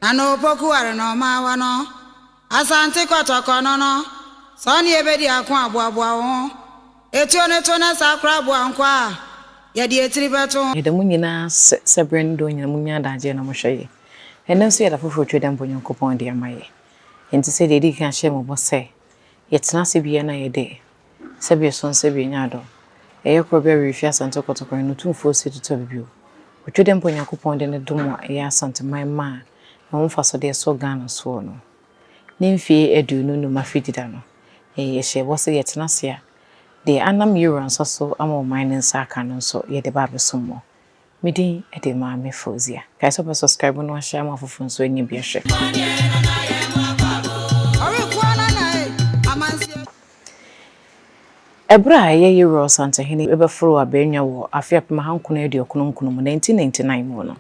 Na no opoku are na ɔma awa no Asante kɔtɔkɔ no no Sɛ ɔne yɛ bɛdi ako a boaboa wo ho Etuo no to na saa koraa boa nkoa a Yɛde etiri bɛto ho. Yɛda mo nyina ase sɛ berɛ ne dɔn nyina monya adagyeɛ na mohwɛ yɛ. Ɛnnɛ nso yɛ da foforɔ Twɛ dɛmpa Onyankopɔn de ama yɛ. Enti sɛdeɛ yɛdii kan hyɛɛ mo bɔ sɛ yɛtena ase biara na yɛde Sɛ bia so nsɛ bia nya adom. Ɛyɛ korɔ bia w'erefi Asante kɔtɔkora no Otumfoɔ se tutɔ bi bio. Otwa dɛ mpo Onyankopɔn de ne dom a ɛyɛ Asanteman ma a ɛho mfaso de ɛsɔ Ghana soɔ no. Ne mfie aduonu nnum afe dida no, yɛn yɛhyɛɛ bɔ se yɛtena ase a, deɛ anam yɛwura nsa so ama ɔman no nsa aka no nso yɛde ba abɛsom mo. Me din de Maame Fauzia. Kae sɛ wobɛ subscribe na wahyɛ ama afoforɔ nso anya bi ahwɛ. Ɛberɛ a ɛyɛ Yeroe Ɔsantehene bɛforoo Abaanya wɔ afe apem ahankron aduokron nkron mu, 1999 mu, no,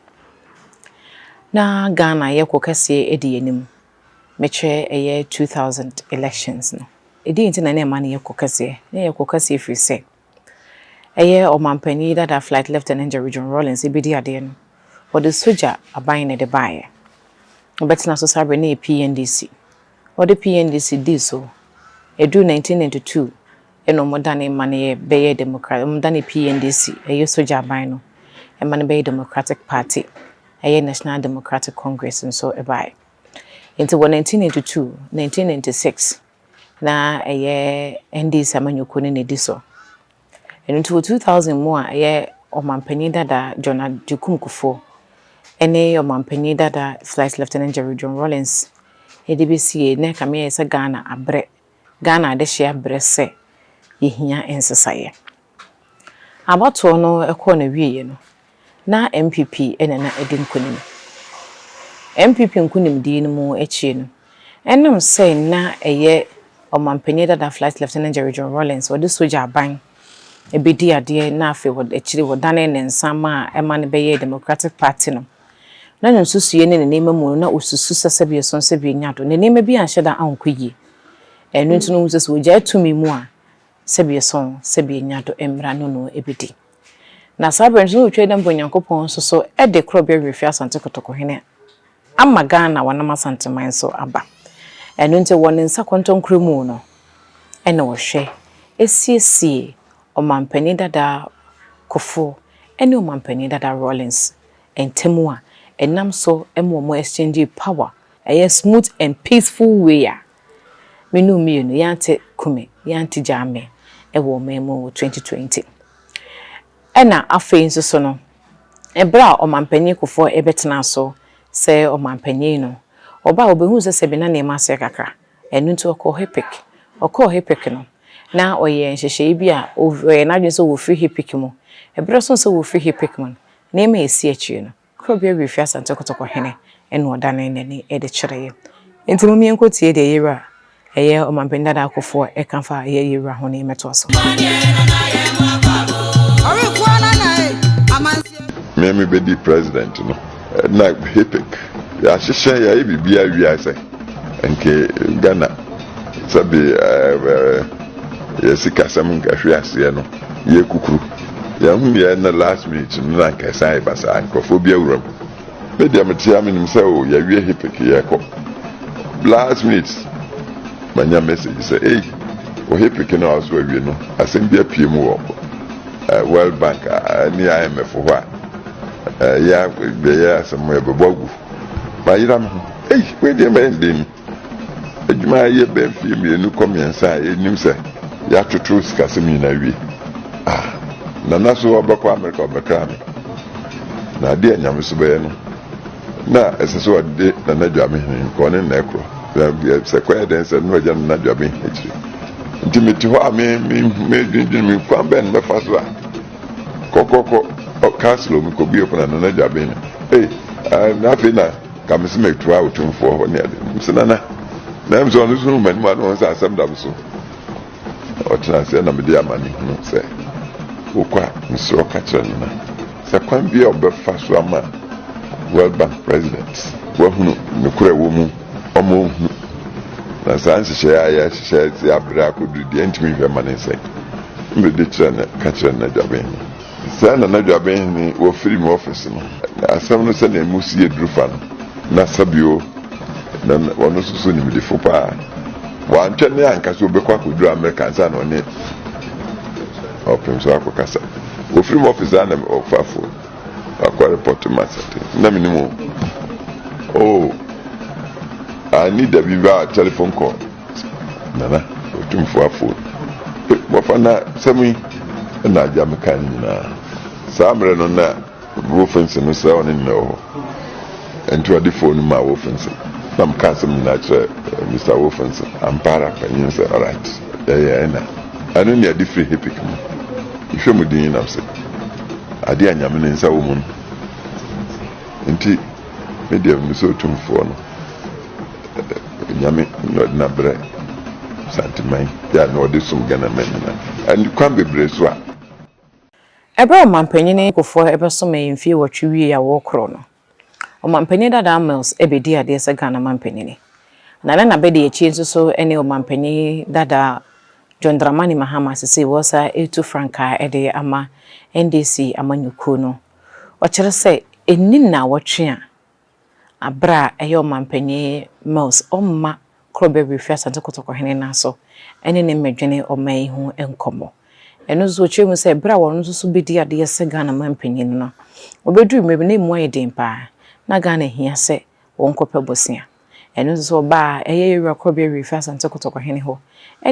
na Ghana yɛ ko kɛseɛ di yɛn anim, mekyerɛ ɛyɛ 2000 elections no. Deɛn nti na na ɛma no yɛ ko kɛseɛ? Na ɛyɛ ko kɛseɛ ɛfiri sɛ, ɛyɛ Ɔmanpanyin dada Flight Lieutenant Jerry John Rawlings ebedi adeɛ no, wɔde sogya aban na ɛde baeɛ. Ɔbɛtena so saa berɛ no yɛ PNDC. Wɔde PNDC dii so. Ɛduruu 1992 ɛna wɔdanee ma no yɛ bɛyɛɛ Democrat, wɔdanee PNDC, ɛyɛ sogya aban no, ɛma no bɛyɛɛ Democratic Party, ɛyɛ National Democratic Congress nso baeɛ. Enti wɔ 1992, 1996, na ɛyɛ NDC amanyɔkuo no na ɛdi so. Ɛno nti wɔ 2000 mu a ɛyɛ ɔmanpanin dada John Agyekum Kufuor ne ɔmanpanin dada Flight Lieutenant Jerry John Rawlings de bɛsiee na ɛkame ayɛ sɛ Ghana abrɛ, Ghana adehyeɛ abrɛ sɛ yɛhia nsesaeɛ. Abatoɔ no kɔɔ n'awieɛ no, na NPP na na adi nkunim. NPP nkunimdie no mu akyire no, ɛnam sɛ na ɛyɛ Ɔmanpanin dada Flight Lieutenant Jerry John Rawlings, ɔde sogya aban bɛdii adeɛ na afei wɔ akyire wɔdanee ne nsa maa ɛma no bɛyɛɛ Democratic Party no, na ne nsusuiɛ ne ne nneɛma mu no, na ɔsusu sɛ sɛbi ɛsono sɛbi ɛnya do. Ne nneɛma bi anhyɛ da ankɔ yie. Ɛno nti no, wohu sɛ sɛ wɔgyae tumi mu a, sɛ bieso sɛ bienya do mbra no no ebedi. Na saa ber no so no otwar dɛ mbrɛ Nyankopɔn soso de krɔbea wi fi Asante Kotoko hene ama Ghana wɔnam Asanteman so aba. Ɛno ntsi wɔ ne nsa kɔntɔnkrɔ mu no na ɔhwɛ esiesie Ɔmampanyin dada Kofo ne Ɔmampanyin dada Rawlings ntamu a, enam so ma wɔn exchangee power, ɛyɛ smooth and peaceful way a. Me ne wo mmienu, yɛante Kumi, yɛante Gyame wɔ ɔman mu wɔ 2020. Ɛna afei nso so no, ɛberɛ a Ɔmanpanin Kufour bɛtenaa so sɛ Ɔmanpanin no, ɔbaeɛ ɔbɛhuu sɛ sɛbe na nneɛma asɛe kakra, ɛno nti ɔkɔɔ HIPIC. Ɔkɔɔ HIPIC no, na ɔyɛɛ nhyehyɛeɛ bi a ɔyɛɛ n'adwene sɛ ɔfiri HIPIC mu. Ɛberɛ soɔ sɛ ɔfiri HIPIC mu no, nneɛma a ɛsii akyire no, Kuro bi awie fi Asante Kotoko hene na ɔdanee n'ani de kyereeɛ. Enti mom yɛnkɔtie deɛ Yewura a ɛyɛ Ɔmanpanin Dada Akufoɔ ka fa yɛn Yewura ho na yɛmmɛtoa so. Me me bedi president no na hipik yahyehyɛ yayɛ biribiaa wiase. Nke Ghana sɛbe yɛ sikasɛm nkahwe aseɛ no yɛ kukuru yɛhu deɛ na last minute no na nka ɛsan ɛba saa nkurɔfoɔ bi awura mu me deɛ metea menim sɛ o yɛawie hepek yɛkɔ last minute manya message sɛ ei wɔ hepek no a ɔso awie no asɛm bi apue mu wɔ world bank ne imf hɔ a ɛyɛ asɛm yɛbɛbɔ agu Mayera me ho. Ei, wei deɛ mɛyɛ dɛn ni? Adwuma a yɛ bɛn mfeɛ mmienu kɔ mmiɛnsa a ɛnim sɛ yɛatoto sikasɛm nyinaa wie. Ah, Nana so ɔbɛkɔ Amerika ɔbɛkra me. Na adeɛ a Nyame so bɛyɛ no, na ɛsɛ sɛ ɔde Nana Dwame hene nka ɔne Nana ɛkorɔ. Sɛ kɔyɛ dɛn sɛ no agya Nana Dwame akyire. Nti mete hɔ a me, me, medwendwene me kwan bɛn mɛfa so a. kɔ kɔ kɔ ɔ castle omi kɔ bie pono na n'agya bɛn no ee ɛɛ na afei na kamisi ma etu a otumfoɔ hɔ ne ade nso nana na ɛmu sɛ ɔno nso ma anim ano sɛ asɛm dam so ɔtena ase ɛna mede ama ne hunu sɛ wokɔ a mesrɛ ɔka kyerɛ no na sɛ kwan bi a ɔbɛfa so ama world bank president wahunu nokorɛ wɔ mu ɔma ɔhunu na saa nhyehyɛeɛ a yɛahyehyɛ sɛ aberɛ akɔduru deɛ ntumi nhwɛ ma ne nsɛn Mede kyerɛ no ka kyerɛ N'adwabenhene. Sɛɛ na N'adwabenhene wɔ firim ɔfese no. Na asɛm no sɛdeɛ emu si yɛ duru fa no, na Sabio na na ɔno nso so nimdefo pa ara. Wantwɛn ne anka sɛ ɔbɛkɔ akɔduru Amerika ansa na ɔne Ɔpemfoɔ akɔkasa. Ɔfirim ɔfese a na ɔfa fon akɔ repɔto ma sɛte. Na menim o. Oh, anni da bi baa telephone call. Nana Otumfoɔ Aford, Wɔfa na asɛm yi na agya me kae no nyinaa. Saa mmerɛ no na Wolfensohn no sɛ ɔne Nana wɔ hɔ. Ɛnti ɔde fon no maa Wolfensohn na meka asɛm nyinaa kyerɛɛ Mister Wolfensohn. Ampa ara, panyin no sɛ, Alright, yɛyɛ ɛna. Ɛno ne ade firi Hipik mu. Mehwɛ mu dinn nam sɛ, Adeɛ a Nyame ne nsa wɔ mu no nti, me deɛ menisɛ Otumfoɔ no. Nyame na ɔde no abrɛ Asanteman yi a na ɔde som Ghanaman nyinaa. Ɛne kwan bebree so a. Ɛberɛ a Ɔmanpanin Kufuor bɛsomee mfeɛ nwɔtwe wieeɛ a wɔrekorɔ no, Ɔmanpanin Dadaa Mills bɛdii adeɛ sɛ Ghana Manpanin, na na n'abadiakyie nso so ne Ɔmanpanin Dadaa John Dramani Mahama a seesei wɔresa retu frankaa de ama NDC amanyɔkuo no. Ɔkyerɛ sɛ ɛnni nnawɔtwe a. Aber a ɛyɛ Ɔmampanyin Mills ɔmma Krɔbea Birifi Asante Kotoko Hene no aso ne ne mbɛdwene ɔman yi ho nkɔmbɔ. Ɛno so ɔkyerɛ mu sɛ ber a ɔno so so bedii adeyɛ sɛ Ghana mampanyin no, obedur mber bi no emu ayɛ den paa na Ghana hia sɛ wɔnkɔpɛ bosea. Ɛno ntsi so ɔbaa ɛyɛ Yewura Krɔbea Birifi Asante Kotoko Hene hɔ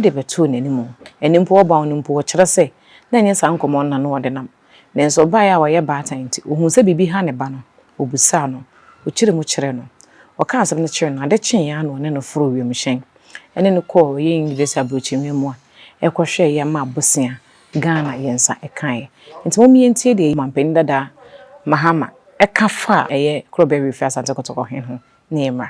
de bɛtoo n'anomu. Ɛno mpo, ɔbaw no mpo, ɔkyerɛ sɛ nna nnyɛ saa nkɔmbɔ no na no ɔdenam. Nanso ɔbaeɛ a ɔyɛ baatan nti, ɔhuu sɛ biribi ha ne ba no, ɔbisaa no, ɔkyiri mu kyerɛɛ no. Ɔkaa asɛm no kyerɛɛ no, ade kyeeɛ ara na ɔne no foroo wiemhyɛn ne no kɔɔ ɔyɛ English aburokyinwia mu a ɛkɔhwɛɛ yɛn maa bosea Ghana yɛn nsa kaeɛ. Nti mom yɛntie deɛ Ɔmanpanin Dada Mahama ka faa ɛyɛ Korobe Reef Asante Kotoko he ho ne yɛmmra.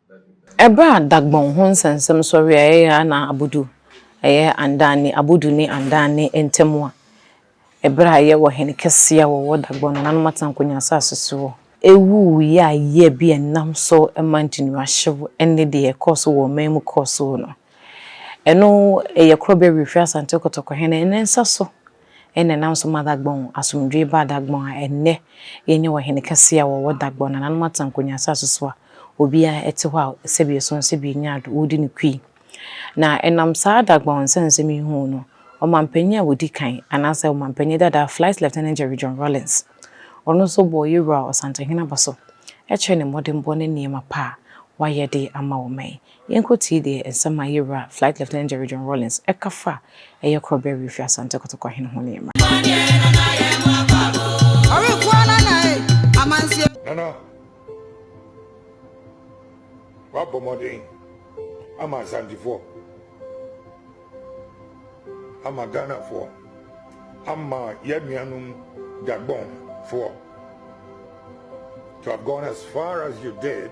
Ɛberɛ a Dagbon ho nsɛmnsɛm sɔreɛ a ɛyɛ Yaa na Abodu, ɛyɛ Andani, Abodu ne Andani ntamu a, ɛberɛ a ɛyɛ ɔhene kɛseɛ a ɔwɔ Dagbon nananom Atankonyaa asaase soɔ, ɛwuwuiɛ a yea bi a ɛnam so ma ntinuahyew ne deɛ ɛkɔɔ so wɔ ɔman mu kɔɔ so no, ɛno ɛyɛ korɔbea wiefirii Asante Kotoko hene ne nsa so. ɛna ɛnam so ma Dagbon asomdwoe baa Dagbon a ɛnnɛ yɛanya ɔhene kɛse a wɔwɔ Dagbon, nananom Atankonyi asase so a obiara te hɔ a sɛbea so nso bi nyaa do, wodi no kui. Na ɛnam saa Dagbon nsɛnsɛm yi ho no, ɔmampanyin a odi kan, anaasɛ ɔmampanyin dada Flight Lieutenant Jerry John Rawlings, ɔno nso bɔɔ Yewura Ɔsantehene abaso kyerɛɛ ne mmɔdenbɔ ne nneɛma pa a wayɛ de ama ɔman. Yɛnkɔtie deɛ nsɛm a yɛn wura Flight Lieutenant Jerry John Rawlings ka fa Ɛyɛ Korɔ Berɛ Refi Asante Kotoko Ahene ho ne mmra. Nana, wabɔ mmɔden ama Asantefoɔ, ama Ghanafoɔ, ama yɛn nuanom Gabonfoɔ to have gone as far as you did.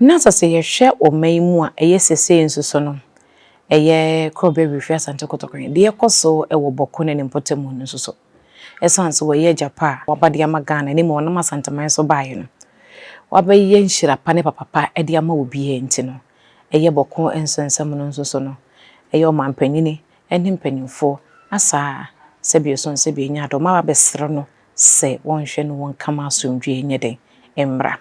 Na sɛ sɛ yɛhwɛ wɔ mma yi mu a ɛyɛ sesei nso so no, ɛyɛ Kɔbɛ Wirefie Asante Kotoko he, deɛ ɛkɔ so wɔ Bɔko ne ne mpɔtamu no nso so. Esiane sɛ wɔyɛ agya pa a waba de ama Ghana ne mmom ɔnam Asanteman so baeɛ no, wabɛyɛ nhyira pa ne papa pa de ama obiaa nti no, ɛyɛ Bɔko nso nsɛm no nso so no, ɛyɛ ɔmampanyini ne mpanyimfoɔ asaa sɛbio so nsɛbio nya adom aba abɛsere no sɛ wɔnhwɛ no wɔnka ma asomdwoeɛ nyɛ dɛn? mmra.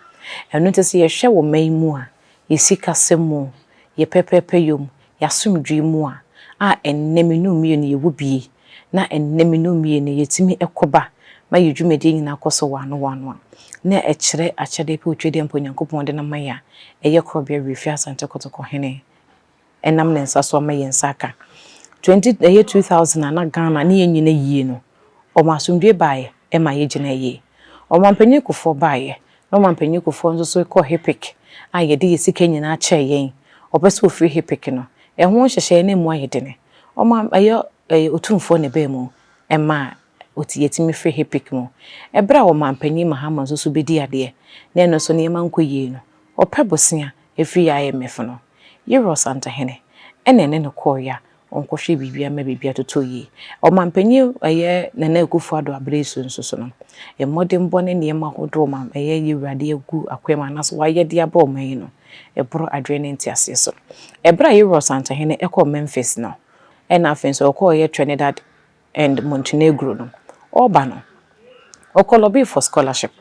Ɛno nti sɛ yɛhwɛ wɔ man yi mu a, yɛsi kasɛm mu, yɛ pɛpɛɛpɛyɔ mu, yɛ asomdwoeɛ mu a, a ɛnnɛ mene wo mmienu yɛwɔ bie, na ɛnnɛ mene wo mmienu yɛtumi kɔ ba ma yɛ dwumadie nyinaa kɔ so wɔano wɔano a, na ɛkyerɛ akyɛdeɛ pɛ otwadeɛ ampa Onyankopɔn de no ama yɛ a, ɛyɛ korɔbea werɛ fie Asante Kotoko hene. nam ne nsa so ama yɛn nsa aka. Twenty ɛyɛ two thousand a na Ghana ne yɛn nyina yie no, wɔn asomdwoeɛ baeɛ ma yɛgyinaa yie. Wɔn Mampanin Kufoɔ baeɛ na wɔn Mampanin Kufoɔ nso so kɔɔ HIPC a yɛde yɛn sika nyinaa kyɛɛ yɛn. Wɔpɛ sɛ wɔfiri HIPC no, ɛho nhyehyɛeɛ no mmu ayɛ dene. Wɔn ɛyɛ ɛyɛ Otumfoɔ na ɛbaa mu maa ɔte yɛtumi firi HIPC mu. Ɛberɛ a Ɔmanpanin Mahama nso so bɛdi adeɛ na ɛno nso nneɛma nkɔ yie no, ɔpɛ bosea firi IMF no. Yerɛ Ɔsantahene ɛna ɛne no kɔeɛ a ɔnkɔhwɛ biribiara mma biribiara totɔ yie. Ɔmanpanin ɛyɛ Nana Akufo Addo aberɛ yi so nso so no, mmɔdenbɔ ne nneɛma ahodoɔ ɔma ɛyɛ Yewurade agu akwan mu anaasɛ wayɛ de aba ɔman yi no, ɛboro adwene ne nteaseɛ so. Ɛberɛ a Yerɛ Ɔsantahene kɔɔ Memphis no, ɛna afei nso ɔkɔeɛ Trinidad, and Montenegro no, ɔreba no, ɔkɔ lobby for scholarship.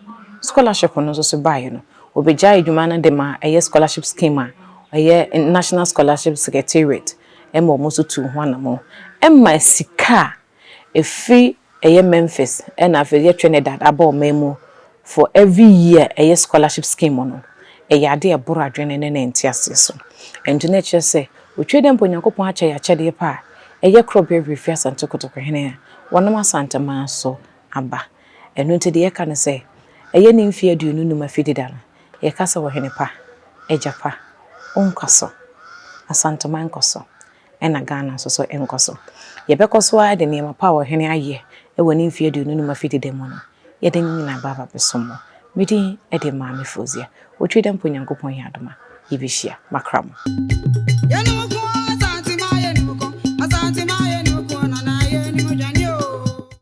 Scholarship no nso so baeɛ no, ɔbɛgyae adwuma no de ma ɛyɛ scholarship scheme a ɛyɛ National Scholarship Secretariat ma wɔn nso tuu ho anamɔn. Ɛma sika a ɛfiri ɛyɛ Memphis na afei ɛyɛ Trinidad aba ɔman mu For every year ɛyɛ scholarship scheme no, ɛyɛ ade a ɛboro adwene ne ne nteaseɛ so. Ɛnti na ɛkyerɛ sɛ, otwa dɛ mpo Onyankopɔn akyɛ yɛn akyɛdeɛ pa a ɛyɛ korɔ berɛ Awirefi Asante Kotokehene a wɔnam Asanteman so aba. Ɛno nti deɛ yɛka ne sɛ, ɛyɛ ne mfeɛ aduonu nnum afidida no, yɛka sɛ, Ɔhene pa, Agya pa, wo nkɔso. Asanteman nkɔso. na Ghana nso so nkɔ so. Yɛbɛkɔ so ara de nneɛma pa a ɔhene ayɛ wɔ ne mfeɛ aduonu no mu afiri deda mu no, yɛde ne nyinaa bɛba abɛsom mo. Me din de Maame Fozia. Otwi dɛ mpo Nyankopɔn yɛ adom a, yɛbɛhyia. Makra mo.